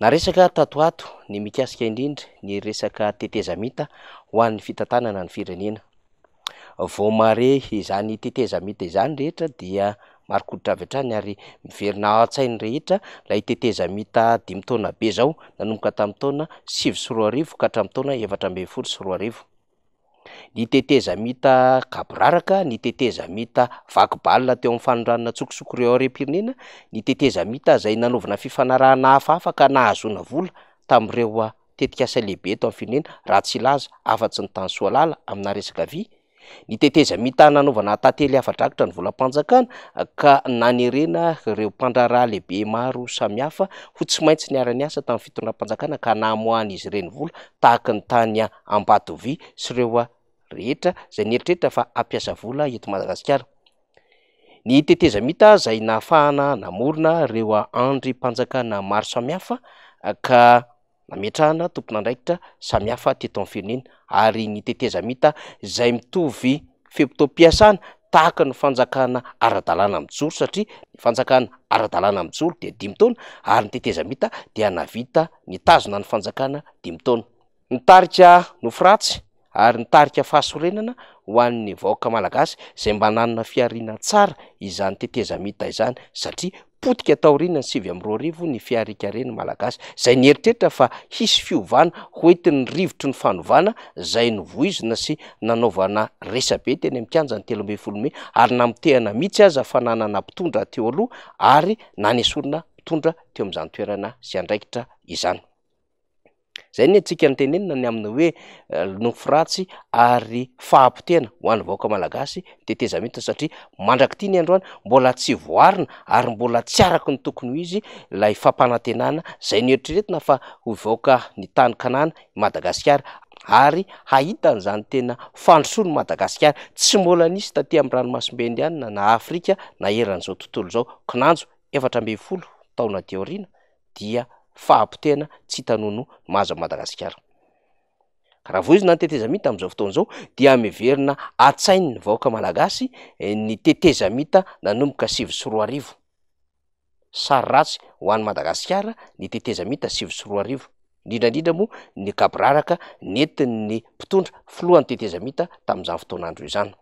Naresaka tato ho ato ny mikasika indrindra ny resaka tetezamita ho an'ny fitantanana ny firenena. Vao mahare izany tetezamita izany rehetra dia marin-koditra avy hatrany ary miverina ao an-tsain'ny rehetra ilay tetezamita dimy taona be izao nanomboka tamin'ny taona sivy sy roa arivo ka hatramin'ny taona efatra ambin'ny folo sy roa arivo. Ny tetezamita gaboraraka, ny tetezamita vaky balina teo amin'ny fanondranana an-tsokosoko ireo harem-pirenena, ny tetezamita izay nanaovana fifanarahana hafahafa ka nahazoana vola tamin'ireo tetikasa lehibe eto amin'ny firenena, raha tsy hilaza afa-tsy ny tany Soalala aminà resaka vy, ny tetezamita nanaovana tantely afa-drakitra ny volam-panjakana ka nanerena ireo mpandraharaha lehibe maro samihafa ho tsy maintsy niara-niasa tamin'ny fitondram-panjakana ka namoahan'izy ireny vola tahaka ny tany Ambatovia sy ireo rehetra izay nieritreritra fa hampiasa vola eto Madagasikara. Ny tetezamita izay nahafahana namorona ireo andrim-panjakana maro samihafa ka nametrahana tompon'andraikitra samihafa teto amin'ny firenena ary ny tetezamita izay mitovy fe-potoam-piasana tahaka ny fanjakana ara-dalàna mijoro satria ny fanjakana ara-dalàna mijoro dia dimy taona ary ny tetezamita dia nahavita nitazona ny fanjakana dimy taona. Ny tarika Nofy Ratsy ary ny tarika Fahasorenana ho an'ny vahoaka malagasy izay mba nanana fihariana tsara izany tetezamita izany satria potika taorian'ny sivy amby roa arivo ny fihariankaren'ny malagasy izay nieritreritra fa hisy fiovana hoentin'ny rivotry ny fanovana izay novoizina sy nanaovana resabe teny amin'ny kianjan'ny telo ambin'ny folo mey ary namotehana mihitsy aza fananana mpitondra teo aloha ary nanesorina mpitondra teo amin'izany toerana sy andraikitra izany. Izay ny antsika no tenenina ny amin'ny hoe nofy ratsy ary fahapotehana ho an'ny vahoaka malagasy tetezamita satria mandrak'ity ny androany mbola tsy voarina ary mbola tsy araka ny tokony ho izy ilay fampanantenana izay noeritreretina fa ho vahoaka ny tany kanana i Madagasikara ary hahita an'izany tena fandrosoan'i Madagasikara tsy mbola nisy taty amin'ny ranomasimbe indianina na Afrika na eran'izao tontolo izao. Kinanjo efatra ambin'ny folo taona aty aoriana. dia fahapotehana tsy hita noho no mahazo an'i Madagasikara. Ka raha voizina ny tetezamita amin'izao fotoana izao dia miverina an-tsain'ny vahoaka malagasy ny tetezamita nanomboka sivy sy roa arivo. Sary ratsy ho an'i Madagasikara ny tetezamita sivy sy roa arivo, indrindra indrindra moa ny gaboraraka nentin'ny mpitondra filohan'ny tetezamita tamin'izany fotoan'andro izany.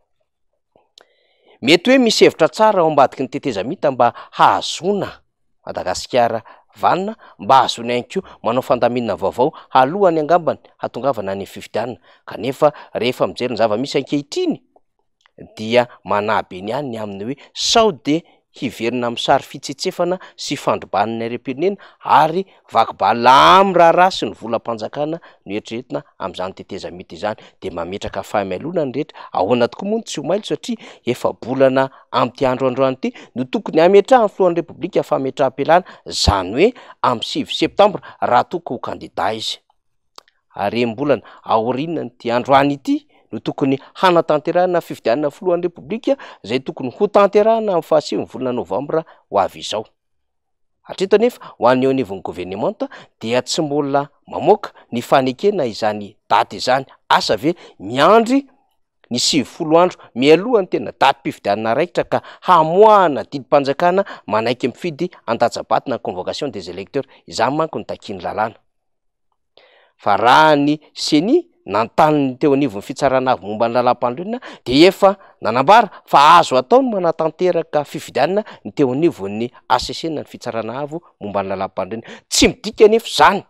Mety hoe misy hevitra tsara ao ambadiky ny tetezamita mba hahazoana Madagasikara vanona, mba hahazoana ihany koa manao fandaminana vaovao alohany angambany hatongavana any amin'ny fifidianana kanefa rehefa mijery ny zava-misy ankehitriny dia manahy be ny ahy ny amin'ny hoe sao dia hiverina amin'ny sary fitsetsefana sy fandrobana ny harem-pirenena ary vaky balina amin'ny raharaha sy ny volam-panjakana no eritreretina amin'izany tetezamita izany dia mametraka fahaimailona ny rehetra, ahoana tokoa moa ny tsy ho mailo satria efa bolana amin'ity andro androany ity no tokony hametrahan'ny filohan'ny repoblika fametraham-pialana izany hoe amin'ny sivy septambra raha toa ka ho kandida izy. harem-bolana aorianan'ity androany ity no tokony hanatanterahana fifidianana filohan'ny Repoblika izay tokony ho tanterahana amin'ny fahasivy volana novambra ho avy izao. Hatreto anefa ho an'ny eo anivon'ny governemanta dia tsy mbola mamoaka ny fanekena izany daty izany. Asa ve miandry ny sivifolo andro mialoha ny tena datim-pifidianana raikitra ka hamoahana didim-panjakana manaiky mifidy andatsa-bato na convocation des electeurs? Izany manko no takian'ny lalàna. Fa raha ny Ceni nanontany ny teo anivon'ny Fitsarana Avo momba ny Lalàmpanorenana dia efa nanambara fa azo atao ny manatanteraka fifidianana ny teo anivon'ny hcc na ny Fitsarana Avo momba ny Lalàmpanorenana. Tsy midika anefa izany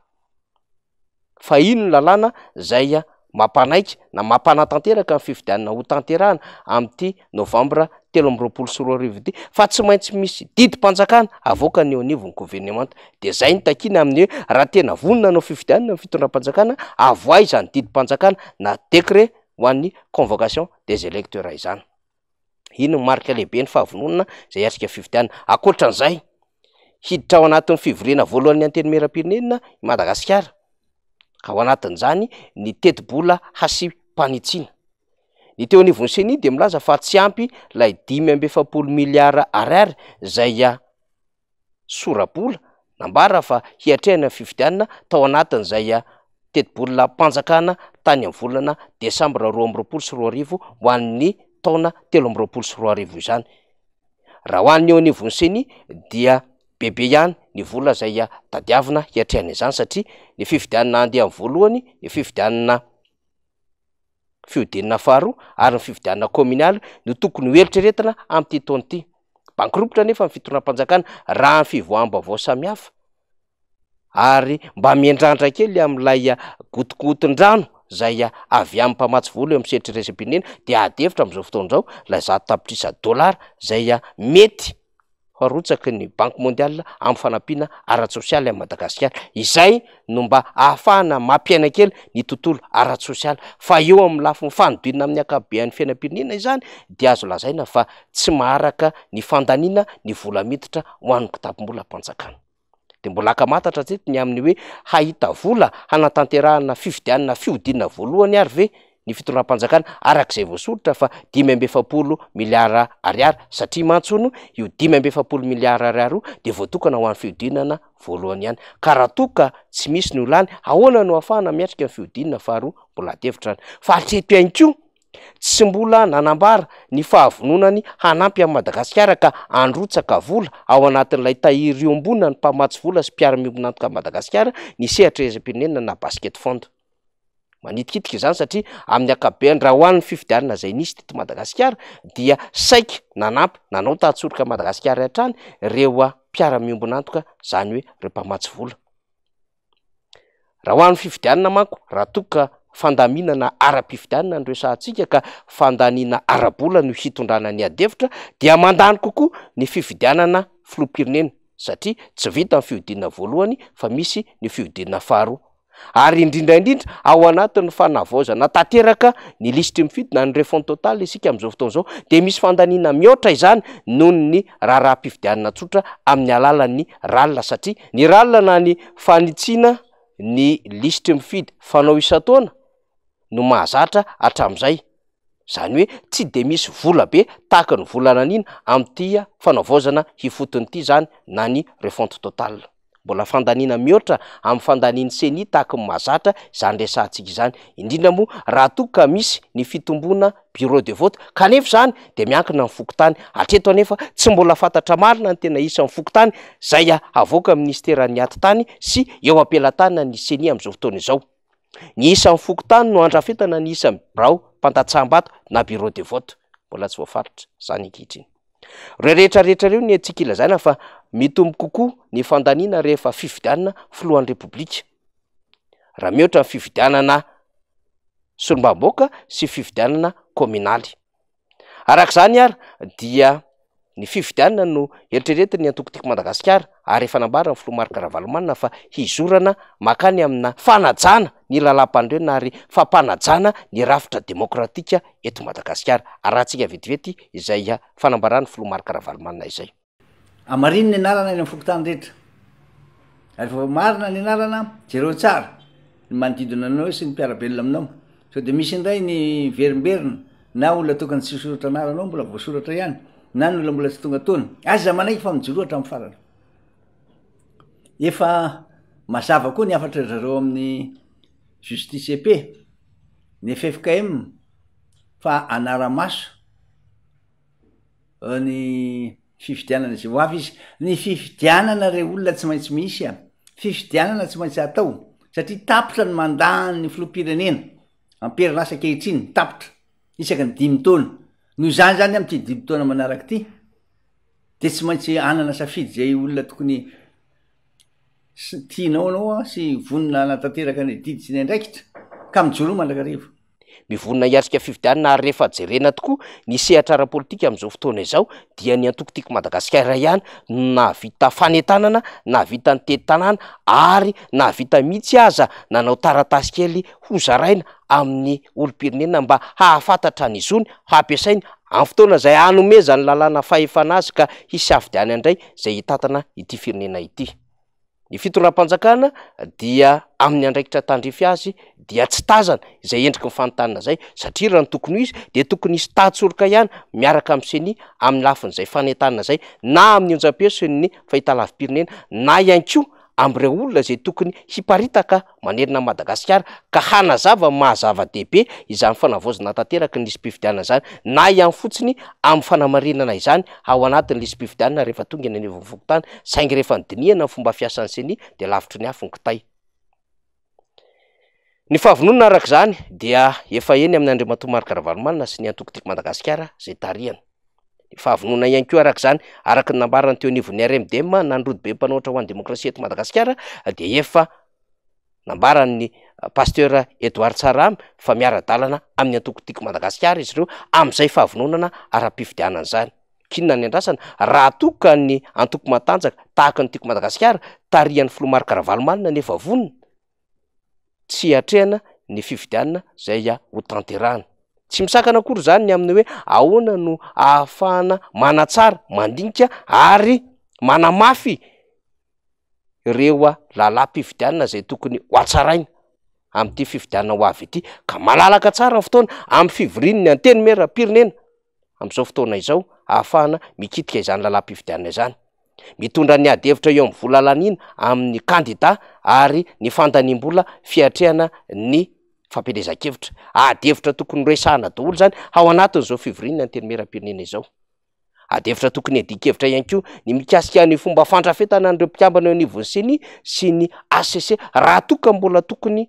fa iny ny lalàna izay mampanaiky na mampanatanteraka ny fifidianana hotanterahana amin'ity novambra telo amby roapolo sy roa arivo ity fa tsy maintsy misy didim-panjakana avoakany eo anivon'ny governemanta. Dia izay no takiana amin'ny hoe raha tena vonona hanao fifidianana ny fitondram-panjakana, avoahy izany didim-panjakana na décret ho an'ny convocation des électeurs izany. Iny no marika lehibe ny fahavononana izay hiatrika ny fifidianana. Ankoatran'izay, hiditra ao anatin'ny fivoriana voalohan'ny Antenimierampirenena i Madagasikara, ka ao anatin'izany ny tetibola hasim-panitsiana. Ny teo anivon'ny Ceni dia milaza fa tsy ampy ilay dimy amby efapolo miliara Ar izay sora-bola nambara fa hiatrehany ny fifidianana tao anatin'izay tetibolam-panjakana tany amin'ny volana desambra roa amby roapolo sy roa arivo ho an'ny taona telo amby roapolo sy roa arivo izany. Raha ho an'ny eo anivon'ny ceni dia bebe ihany ny vola izay tadiavina hiatrehana izany satria ny fifidianana andiany voalohany, ny fifidianana. fihodinana faharoa ary ny fifidianana kaominaly no tokony ho eritreretina amin'ity taona ity. Bankirompitra anefa ny fitondram-panjakana raha ny fivoaham-baovao samihafa ary mba miandrandra kely amin'ilay gotigotin-drano izay avy amin'ny mpamatsy vola eo amin'ny sehatry ny iraisam-pirenena dia ady hevitra amin'izao fotoana izao ilay zato tapitrisa dolara izay mety arotsaky ny Banque Mondiale amin'ny fanampiana ara-tsosialy an'i Madagasikara. Izay no mba ahafahana mampiaina kely ny tontolo ara-tsosialy. Fa eo amin'ny lafiny fanodinana amin'ny ankapobean'ny fiainam-pirenena izany dia azo lazaina fa tsy maharaka ny fandaniana ny vola miditra ho an'ny kitapom-bolam-panjakana. Dia mbola ankamantatra hatreto ny amin'ny hoe hahita vola hanatanterahana fifidianana fihodinana voalohany ary ve ny fitondram-panjakana araka izay voasoritra fa dimy amby efapolo miliara ariary satria mantsy hono io dimy amby efapolo miliara ariary io dia voatokana ho an'ny fihodinana voalohany ihany ka raha toa ka tsy misy ny ho lany ahoana no hahafahana miatrika ny fihodinana faharoa mbola adihevitra fa hatreto ihany koa Tsy mbola nanambara ny fahavononany hanampy an'i Madagasikara ka handrotsaka vola ao anatin'ilay tahiry iombonan'ny mpamatsy vola sy mpiara-miombon'antoka an'i Madagasikara ny sehatra iraisam-pirenena na Basket Fund. Manitikitika izany satria amin'ny ankapobeny raha ho an'ny fifidianana izay nisy teto Madagasikara dia saika nanampy nanao tahan-tsoroka an'i Madagasikara hatrany ireo mpiara-miombon'antoka izany hoe ireo mpamatsy vola. Raha ho an'ny fifidianana manko, raha toa ka fandaminana ara-pifidianana no resahantsika ka fandaniana ara-bola no hitondrana ny adihevitra dia mandany kokoa ny fifidianana filoham-pirenena satria tsy vita ny fihodinana voalohany fa misy ny fihodinana faharoa ary indrindra indrindra ao anatin'ny fanavaozana tanteraka ny lisitry ny fidy na ny refon'ny totaly isika amin'izao fotoana izao dia misy fandaniana mihoatra izany noho ny raharaham-pifidianana tsotra amin'ny alalan'ny ralina satria Ny rallye na ny fanitsiana ny lisitry ny mpifidy fanao isan-taona no mahazatra hatramin'izay, izany hoe tsy dia misy vola be tahaka ny vola naniana amin'ity fanavaozana ifotony ity izany na ny refonte totale. Mbola fandaniana mihoatra amin'ny fandanian'ny ceni tahaka ny mahazatra izany resahantsika izany, indrindra moa raha toa ka misy ny fitomboana bureau de vote kanefa izany dia miankina amin'ny fokontany, hatreto anefa tsy mbola fantatra marina ny tena isan'ny fokontany izay havoakan'ny minisiteran'ny Atitany sy eo am-pelatanana ny Ceni amin'izao fotoana izao. Ny isan'ny fokontany no handrafetana ny isan'ny birao mpandatsaham-bato na bureau de vote, mbola tsy voafaritra izany ankehitriny. Ireo rehetra rehetra ireo ny antsika ilazaina fa mitombo kokoa ny fandaniana rehefa fifidianana filohan'ny Repoblika. raha mihoatra ny fifidianana solombavambahoaka sy fifidianana kaominaly. Araka izany ary dia ny fifidianana no eritreretin'ny antoko Tiako Madagasikara ary efa nambaran'ny filoha Marc Ravalomanana fa hizorana mankany amina fanajana ny lalam-panorenana ary fampanajana ny rafitra demokratika eto Madagasikara. Arahantsika vetivety izay fanambaran'ny filoha Marc Ravalomanana izay. Amarino ny anarana eny amin'ny fokontany rehetra. Ary vao marina ny anarana, jereo tsara ny manodidina anao sy ny mpiara-belona aminao. Sao dia misy indray ny verimberina na olona tokony tsy hisoratra anaranao mbola voasoratra ihany na ny olona mbola tsy tonga tony. Aza manaiky fa mijoroa hatramin'ny farany. Efa mazava koa ny hafatra zareo amin'ny Justice EP, ny FFKM fa anara-maso. eo ny fifidianana izay ho avy izy. Ny fifidianana re olona tsy maintsy misy a! Fifidianana tsy maintsy atao satria tapitra ny mandat-n'ny filoham-pirenena am-perinasa ankehitriny, tapitra, isaky ny dimy taona. Noho izany izany amin'ity dimy taona manaraka ity dia tsy maintsy hanana safidy izay olona tokony tianao ianao sy vonona hanatanteraka ny adidy sy ny andraikitra ka mijoroa mandrakariva. Mivonona hiatrika fifidianana ary rehefa jerena tokoa ny sehatra ara-politika amin'izao fotoana izao dia ny antoko Tiako Madagasikara ihany no nahavita fanentanana, nahavita nitety tanàna ary nahavita mihitsy aza nanao taratasy kely hozaraina amin'ny olom-pirenena mba hahafantatra ny zony hampiasainy amin'ny fotoana izay hanomezany lalàna fahefana azy ka hisafidianany indray izay hitantana ity firenena ity. Ny fitondram-panjakana dia amin'ny andraikitra tandrify azy dia tsy tazana izay endriky ny fanontaniana izay satria raha ny tokony ho izy dia tokony hisy tahan-tsoroka ihany miaraka amin'ny ceni amin'ny lafin'izay fanentanana izay na amin'ny onjam-peo sy ny fahitalavi-pirenena na ihany koa amin'ireo olona izay tokony hiparitaka manerana an'i Madagasikara ka hanazava ny maha zava-dehibe izany fanavaozana tanteraky ny lisi-pifidianana izany na ihany fotsiny amin'ny fanamarinana izany ao anatin'ny lisi-pifidianana rehefa tonga eny anivon'ny fokontany saingy rehefa nodinihana ny fomba fiasan'ny ceni dia lavitry ny afo ny kitay. Ny fahavononana araka izany dia efa eny amin'i Andriamatoa Marc Ravalomanana sy ny antoko Tiako Madagasikara izay tarihana. fahavononana ihany koa araka izany, araka ny nambarany teo anivon'ny RMDM nandro dibe mpanohatra ho an'ny demokrasia eto Madagasikara dia efa nambaran'ny Pasteur Edouard Tsarahame fa miara-dalana amin'ny antoko Tiako Madagasikara izy ireo amin'izay fahavononana ara-pifidianana izany. K'inona ny andrasana raha toa ka ny antoko matanjaka tahaka ny Tiako Madagasikara tarihan'ny filoha Marc Ravalomanana no efa vonona? tsy hiatrehana ny fifidianana izay ho tanterahina. Tsy misakana akory izany ny amin'ny hoe ahoana no ahafahana manatsara, mandinika ary manamafy ireo lalam-pifidianana izay tokony ho hatsaraina amin'ity fifidianana ho avy ity ka malalaka tsara ny fotoana amin'ny fivorian'ny Antenimierampirenena. amin'izao fotoana izao ahafahana mikitika izany lalam-pifidianana izany. Mitondra ny ady hevitra eo amin'ny vola laniana amin'ny kandida ary ny fandaniam-bola fiatrehana ny fampielezan-kevitra. Ady hevitra tokony noresahana daholo izany ao anatin'izao fivorian'ny Antenimierampirenena izao. Ady hevitra tokony hiadian-kevitra ihany koa ny mikasika ny fomba fandrafetana an'ireo mpikambana eo anivon'ny ceni sy ny hcc raha toa ka mbola tokony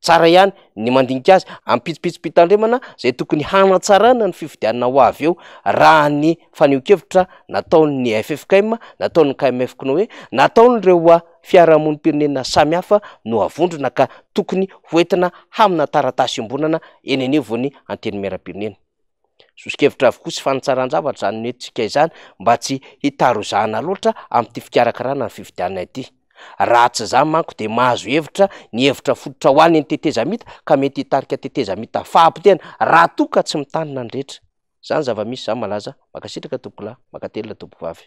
Tsara ihany ny mandinika azy am-pitsopitsom-pitandremana izay tokony hanatsarana ny fifidianana ho avy eo raha ny fanehoan-kevitra nataon'ny ffkm, nataon'ny KMF koa hoe nataon'ireo fiarahamonim-pirenena samihafa no avondrona ka tokony hoentina hamina taratasy iombonana eny anivon'ny Antenimierampirenena. Soso-kevitra avokoa sy fanitsaran-javatra izany nentintsika izany mba tsy hitarozahana loatra amin'ity fikarakarana ny fifidianana ity. Raha tsy izany manko dia mahazo hevitra ny hevitra fototra ho an'ny tetezamita ka mety hitarika tetezamita fahapotehana raha toa ka tsy mitandrina ny rehetra. Izany zava-misy izany malaza. Mankasitraka tompokolahy, mankatelina tompokovavy.